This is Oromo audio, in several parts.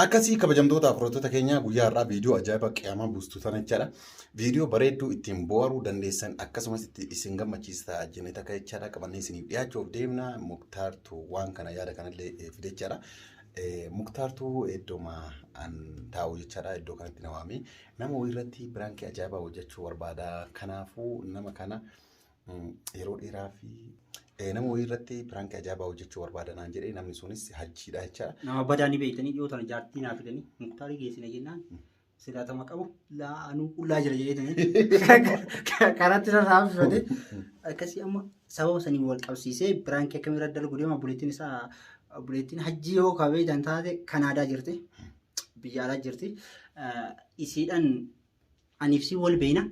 Akkasii kabajamtoota afurottoota keenya guyyaa har'aa viidiyoo ajaa'iba qiyaamaa buustu sana jechaadha. Viidiyoo bareedduu ittiin bohaaruu dandeessan akkasumas itti isin gammachiisa ta'a jennee takka jechaadha qabannee isiniif dhiyaachuuf deemna. Muktaartu waan kana yaada kanallee eh, fide jechaadha. Eh, Muktaartu iddoma an taa'u jechaadha iddoo kanatti na waamee nama wayii irratti biraankii ajaa'ibaa hojjechuu barbaada. Kanaafuu nama kana yeroo dheeraa fi eh, nama wayii irratti piraankii ajaa'ibaa hojjechuu barbaada naan jedhee namni sunis hajjiidha jecha Nama badaa ni beektanii dhiyoo tana jaartii naa fidanii muktaarii geessina jennaan silaatama qabu laa anuu qullaa jira jedhee karatti irra raabsifate akkasii amma sababa sanii wal qabsiisee biraankii akkamii irra dalgu deema buleettiin isaa buleettiin hajjii yoo kabee jan taate kanaadaa jirti biyya alaa jirti isiidhan Aniif si wal beena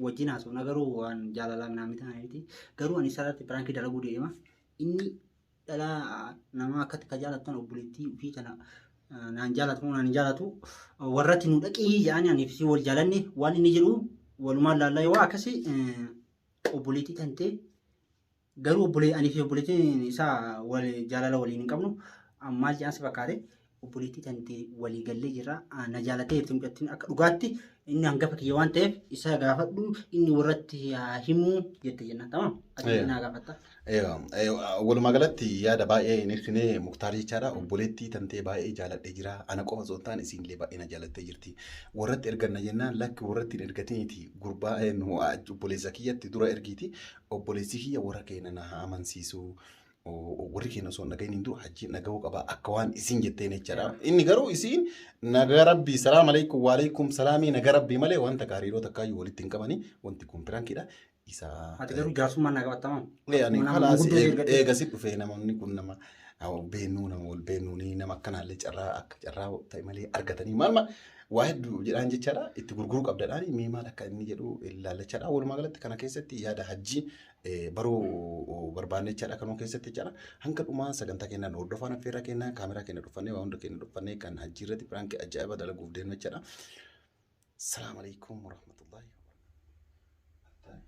wajjin haasofna garuu waan jaalalaa minaa miti miti garuu ani sararti piraankii dalaguu deema inni dhalaa namaa akkatti ka jaalattan obboleettii ofii kana naan jaalatu moo naan jaalatu warratti nu dhaqii jedhanii aniif si wal jaalanne waan inni jedhu walumaan laallaa yoo akkasii obboleettii tantee Garuu obbolee anii fi obboleettiin isaa wal jaalala waliin hin qabnu maal jedhan si fakkaate obboleettii tantee walii gallee jirra Ah, na jaalatee jirti mucattiin akka dhugaatti inni hangafa kiyya waan ta'eef isa gaafadhu inni warratti haa himu jette jennaan tamam ati Eh. naa gaafatta. Eewa, eewa, Walumaa galatti yaada baay'ee hin ibsine muktaar jechaadha. Obboleettii tantee baay'ee jaaladhee jira. Ana qofa osoo hin taane isiinillee baay'ee na jaalattee jirti. Warratti erganna jennaan lakki warratti hin ergatiniiti. Gurbaa eh, nu ah, obboleessa kiyyatti dura ergiiti. obboleessi kiyya warra keenya na haa amansiisu. Warri keenya osoo hin dhagahin hin dura hajjiin dhagahuu qaba akka waan isin jetteen jechaadha. Inni garuu isiin nagaa rabbii salaam alaikum waalaikum salaamii nagaa rabbii malee wanta gaariiroo takkaayyuu walitti hin qabani wanti kun pirankidha. Isa Ati garuu jaarsummaan na qabattamaa? Yaani Nama kalaas guddoo eeg- erga- eegasi dhufee namni kun nama nama beennuu nama wal beennuuni nama akkanaallee carraa akka carraa ta'e malee argatanii maal maal waa hedduu jedhaan jechaadha itti gurguruu qabdadhaan mee maal akka inni jedhu ilaallachaadha walumaa galatti kana keessatti yaada hajjii eh, baruu barbaanne jechaadha kanuu keessatti jechaadha hanga dhumaa sagantaa kennaan hordofaan affeerraa kennaa kaameraa kenna dhuffannee waa hunda kenna dhuffannee kan hajjii irratti piraanki ajaa'iba dalaguuf deemna jechaadha salaam alaikum warahmatullahi wabarakatuh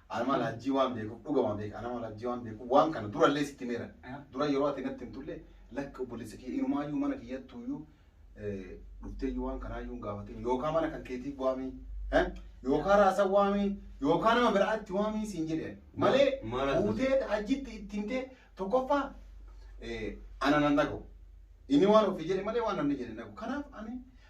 An amala hajjii waan beekuuf dhugama beeka. An amala hajjii waan beekuuf waan kana durallee sitti meera. Dura yeroo ati natti hin tulle lakki obboleessa kiyya inumaayyuu mana kiyyattuuyyuu dhufteeyyuu waan kanaayyuu hin gaafatin yookaan mana kan keetii waamii yookaan raasa waamii yookaan nama biraatti waamii siin jedhe malee fuutee hajjitti itti himtee tokkoffaa ana nan dhagahu. Inni waan ofii jedhe malee waan namni jedhe hin dhagu. Kanaaf ani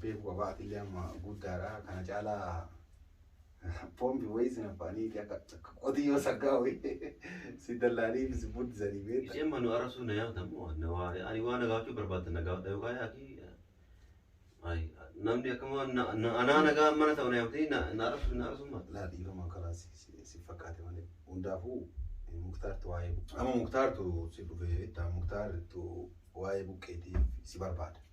beeku qabaa atillee amma guddaadha kana caalaa pompi wayii sin affaaniiti akka akka qotiyyoo saggaa wayii si dallaanii fi si buddisanii beekta. Isheen manu arasuu na yaada moo na waare ani waa na gaafachuu barbaadda na gaafadha yookaan yaaki ayi namni akkuma na na anaa nagaa mana ta'u na yaamtee na na arasuu na arasuu maal. Laa dhiiruma kanaa si si si fakkaate malee hundaafuu eh, muktaartu waa'ee bu- amma muktaartu si dhufee beekta muktaartu waa'ee buqqeetiif si barbaada.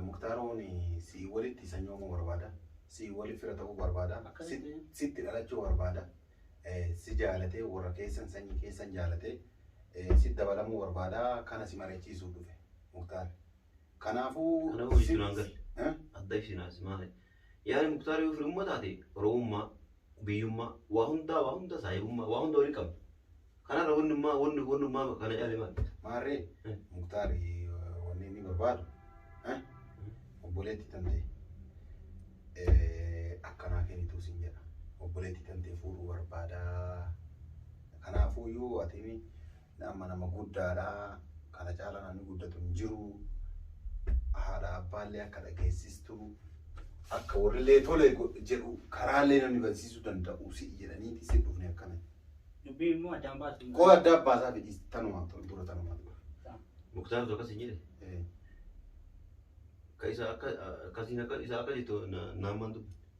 Muktaar Ooni si'i walitti sanyoomuu barbaada. Si'i wali fira ta'uu barbaada. Akkamitti? Sitti dhalachuu barbaada. Si jaalatee warra keessan sanyii keessan jaalatee sitti dabalamuu barbaada. Kana si mari'achiisuuf dhufe Muktaar. Kanaafuu. Kanaafuu jechuun hangal. Adda ibsinaa si maali? Yaani Muktaar yoo firummaa taate Oromummaa, biyyummaa, waa hundaa waa hunda saahibummaa waa hunda waliin qabna. Kanarra wannummaa wanni wannummaa kana caalee maal? Maarree Eh. Muktaar wanni inni barbaadu eh, obboleettii tante eh, akkanaa kennituu sin jedha. Obboleettii tante fuudhuu barbaada. Kanaafuu iyyuu ati Amma nama guddaadha. Kana caalaa namni guddatu hin jiru. Haadha abbaallee akka dhageessistu akka warrillee tole godhe jedhu karaallee namni bansiisuu danda'u si'i jedhaniiti si dhufne akkana. Dubbii immoo addaan baasuun. Koo adda abbaasaa fi dhiis tanuma tol dura tanuma dura. Muktaar tokko si jedhe. Eh. Ka isa akka akkasiin akka isa akka jettu na- naamaan dubbi.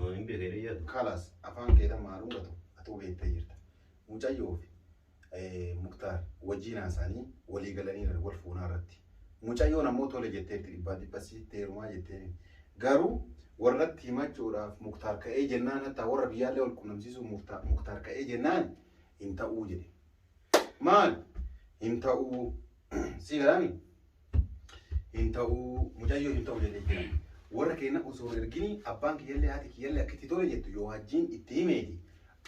Waan hin beekne hin yaadu. Kalas afaan keetan maa dhungatu atuu beektee jirta. Mucayyoo fi eh, Muktaar wajjin haasa'anii walii galaniiran wal fuunaa irratti. Mucayyoon ammoo tole jetteerti dhibbaa dhibba siitti heerumaa jetteeni. Garuu warratti himachuudhaaf Muktaar ka'ee jennaan hattaa warra biyyaallee wal qunnamsiisuuf Muktaar- Muktaar ka'ee jennaan hin ta'uu jedhe. Maal? Hin ta'uu. Sii galaami? Hin ta'uu. Mucayyoo hin ta'u jedhee jira. Warra keenya osoo hin ergini abbaan kiyyallee haati kiyyallee akka itti tole jettu yoo hajjiin itti himeeti.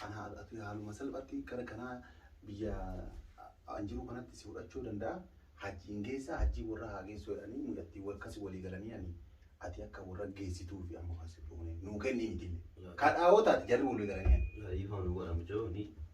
Ana ati haaluma salphaatti gara kanaa biyya an jiru kanatti si fudhachuu danda'a. Hajjiin geessa hajjii warra haa geessu jedhanii mucattii warkas walii galanii ani ati akka warra geessituu fi amma kan si fuune nuu kenni mitille. Kadhaawoo taati jarri walii galanii ani. Ifaan godhamu jiru ni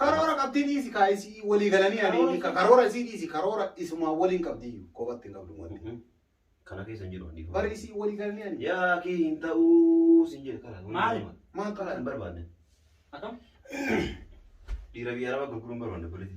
Karoora qabdii dhiisi kaa isii walii galanii ani inni ka- karoora isii dhiisi karoora isumaa waliin qabdii kophatti hin qabdu wanti. Kana keessa hin jiru wanni. Bari isii walii galanii ani. Yaa kii hin ta'uu sin jedhe karaa. Maali? Maal Karaa hin ta'a? barbaanne. Akkam? Dhiira biyya araba gurguruun barbaanne polisi.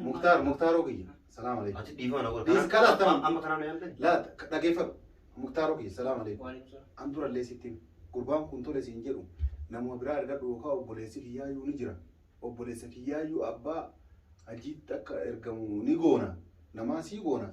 Muktaar muktaaroo kiyya. Salaam alaikum. Ati dhiifama na godha. Dhiis kana attam. Amma kanaan na yaaltani? Laa dhageeffadhu. Muktaaroo kiyya. Salaam alaikum. An durallee sitti hima. Gurbaan kun tole siin jedhu namuma biraa argadhu yookaan obboleessi kiyyaayyuu ni jira. Obboleessa kiyyaayyuu abbaa hajjiitti akka ergamu ni goona. Namaa sii goona.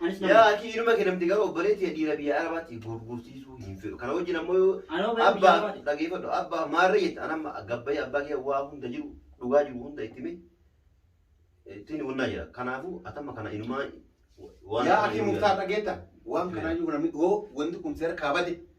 Anis nama. Yaa akii inuma kenamti garuu obboleetti ya dhiira biyya arabaatti gurgursiisuu hin fedhu. Kana wajjin ammoo yoo Anoo biyya abbaa arabaati. dhageeffadhu abbaa maarree jette an amma gabbayee abbaa kee waa hunda jiru dhugaa jiru hunda itti himee ittiin wannaa jira. Kanaafuu atamma kana inumaa waan Yaa kana akii inuu muktaar yaadu. dhageetta. Waan Seera. kanaayyuu namni hoo wanti kun seera kaabade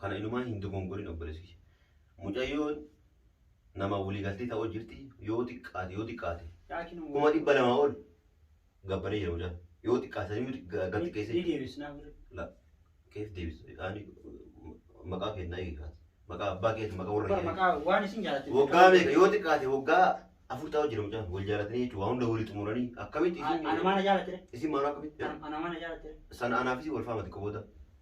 Kana inumaa hin dogongorin obboleessa kiyya. Mucayyoon nama waliigaltee ta'oo jirti yoo xiqqaate yoo xiqqaate kuma dhibba lamaa ol gabbaree jira mucaan yoo xiqqaate sanii miti gad xiqqeessee Ni jira. deebisnaa birri. La keef deebisa ani maqaa kennaa eegaa maqaa abbaa keeti maqaa warra Bar kee. maqaa waan isin jaalatte. Waggaa meeqa yoo xiqqaate waggaa afur ta'oo jira mucaan wal jaalatanii jechuudha waan hunda walii xumuranii akkamitti isin Ana maana jaalatte. isin maanaa akkamitti Ana maana jaalatte. sana anaafis wal faamati qobooda.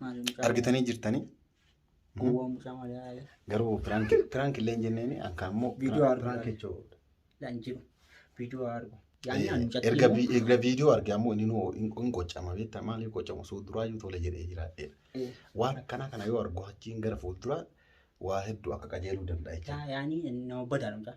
Maali mucaa argitanii jirtanii Gowwaa mucaa maali haala. garuu piraanki piraanki illee hin jenneen akka ammoo Viidiyoo argaa. piraanki jechuudha. Laa hin jiru. Viidiyoo haa argu. Yaani ani mucatti erga immoo- vi- erga viidiyoo arge ammoo inni nuu hin hin qocama beektaa maaliif qocamu suu duraayyuu tole jedhee jiraadheera. Eh, Waan akkanaa kana yoo argu achiin gara fuulduraa waa hedduu akka qajeeluu danda'a jechuudha. yaa- Yaani nama badaadha mucaa.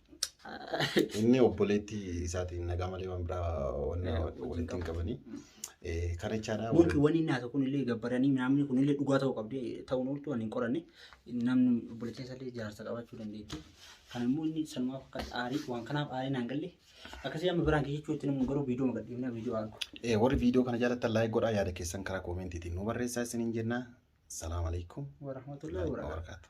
Inni obboleettii isaatiin nagaa malee waan biraa walitti hin qabanii. Kana jechaadha. Nuti wanni inni haasa'u kun illee gabbaranii namni kun illee dhugaa ta'uu qabdi ta'uun ooltu waan hin qoranne namni obboleettiin isaa illee jaarsa qabaachuu dandeetti. Kan immoo inni sanumaaf akka aarii waan kanaaf aarii naan galle akkasii amma biraan kee jechuutti namni garuu viidiyoo magadhiifnaa viidiyoo argu. Warri viidiyoo kana jaalattan laayik godhaa yaada keessan karaa koomeentiitiin nu barreessaa isiniin jenna. Salaam alaikum. Warahmatullahi wabarakatuh.